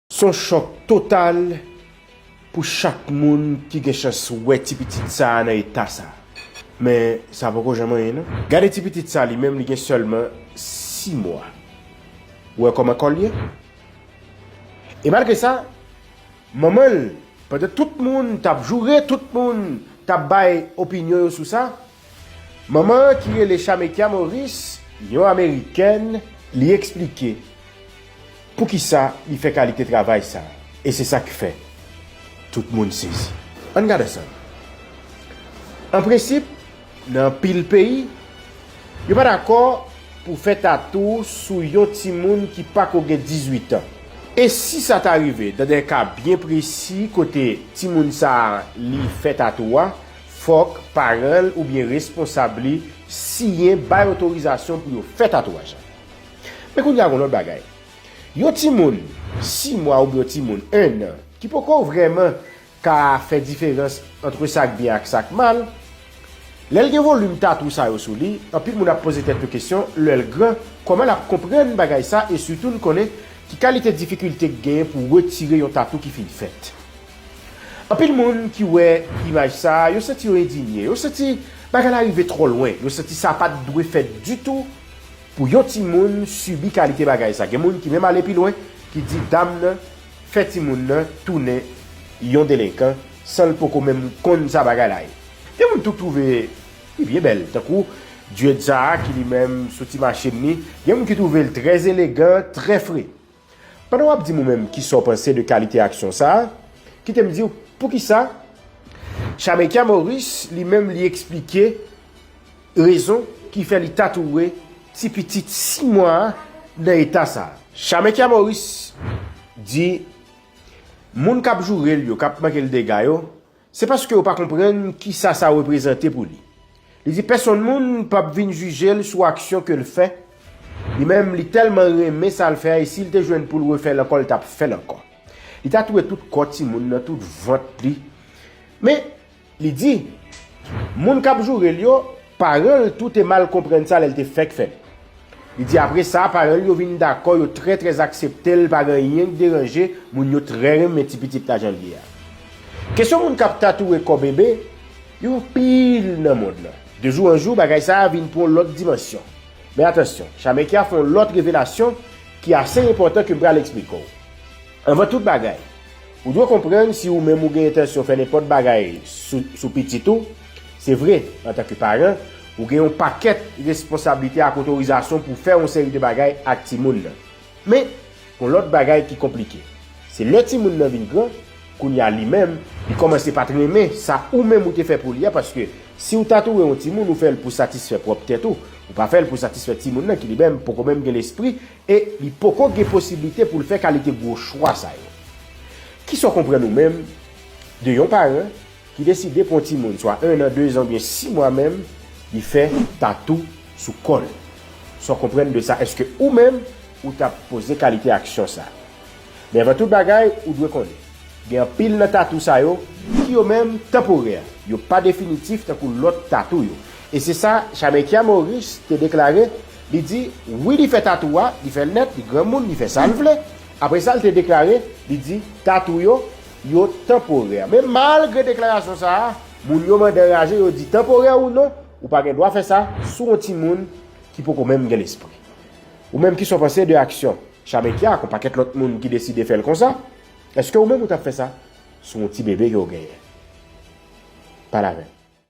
Son chòk total pou chak moun ki gen chans wè ti pitit sa nan eta sa. Men sa poko janm anyen non. Gade ti pitit sa li menm li gen sèlman 6 mwa. Ou wè kòman kòl ye? E malgre sa, manmanl pandan tout moun tap joure, tout moun tap bay opinyon yo sou sa, Manman an ki rele Shamekia Morris, yon amerikèn, li eksplike poukisa li fè kalite travay sa a e se sa k fè tout moun sezi. Ann gad ansanm. An prensip, nan anpil peyi, yo pa dakò pou w fè tatou sou yon timoun ki pa ko gen 18 an. E si sa ta rive, nan de ka byen presi kote timoun sa a li fè tatou a Fòk paran l oubyen responsab li siyen bay otorizasyon pou yo fè tatouaj la. Men kounye a gen yon lòt bagay. Yon timoun 6 mwa oubyen yon timoun 1 an ki poko vrèman ka fè diferans antre sa k byen ak sa k mal, lè l gen volim tatou sa yo sou li, anpil moun ap poze tèt yo kesyon lè l gran kòman l ap konprann bagay sa e sitou n konnen ki kalite difikilte k genyen pou retire yon tatou ki fin fèt. Anpil moun ki wè imaj sa a, yo santi yo endinye. Yo santi bagay la rive twò lwen. Yo santi sa pa t dwe fèt ditou pou yon timoun sibi kalite bagay sa. Gen moun ki menm ale pi lwen, ki di dam nan fè timoun nan tounen yon delenkan san l poko menm konn sa bagay la ye. Gen moun tou k twouve li byen bèl, tankou Dieudza a ki li menm soti machin li. Gen moun ki twouve l trè elegan, trè fre. Pandan w ap di m ou menm kisa w panse de kalite aksyon sa a, kite m di w poukisa Shamaicia Morris li menm li eksplike rezon ki fè li tatouwe ti pitit 6 mwa a nan eta sa a. Shamaicia Morris di, Moun k ap joure l yo, k ap manke l dega yo, Se paske yo pa konprann kisa sa reprezante pou li. Li di pèsonn moun pap vin jije l sou aksyon ke l fè, li menm li tèlman renmen sa l fè a e si l te jwenn pou l refè l ankò l t ap fè l ankò. Li ta touye tout kò timoun nan, tout vant li. Men, li di, moun k ap joure l yo, Paran l tou te mal konprann sa lè l te fèk fèt. Li di apre sa, paran l yo vin dakò, yo trè trè aksepte l, pa gen anyen k deranje, moun yo trè renmen ti pitit la jan l ye a. Kesyon moun k ap tatouwe kò bebe, yo anpil nan mond lan. De jou an jou, bagay sa a vin pran lòt dimansyon. Men atansyon, Shamekia fè yon lòt revelasyon ki ase enpòtan ke m pral eksplike w. Anvan tout bagay, ou dwe konprann si ou menm ou gen entansyon fè nenpòt bagay sou pitit ou, Se vre, antan ke paran, ou gen yon pakèt responsablite ak otorizasyon pou fè yon seri de bagay ak timoun nan. Men, gon lòt bagay ki konplike. Se lè timoun nan vin gran, kounye a li menm, li kòmanse pa t renmen sa ou menm ou te fè pou li a paske si ou ta toure yon timoun ou fè l pou satisfè pwòp tèt ou, ou pa fè l pou satisfè timoun nan ki li menm poko menm gen lespri e li poko gen posiblite pou l fè kalite gwo chwa sa yo. Kisa w konprann ou menm de yon paran Ki deside pran timoun swa 1 an, 2 zan oubyen 6 mwa menm li fè tatou sou kò l. Sa w konprann de sa? Èske ou menm ou t ap poze kalite aksyon sa? Men anvan tout bagay ou dwe konnen, gen anpil nan tatou sa yo ki yo menm tanporè, yo pa definitif tankou lòt tatou yo. E se sa Chamekia Morris te deklare, li di wi li fè tatou a, li fè l nèt, li granmoun, li fè sa l vle. Apre sa l te deklare, li di tatou yo, yo tanporè. Men malgre deklarasyon sa a, moun yo mande anraje, yo di tanporè ou non, ou pa gen dwa fè sa sou yon timoun ki poko menm gen lespri. Ou menm kisa w panse de aksyon Shamekia ak yon pakèt lòt moun ki deside fè l konsa? Eske ou menm ou t ap fè sa sou yon ti bebe ke w genyen? Pale avè m.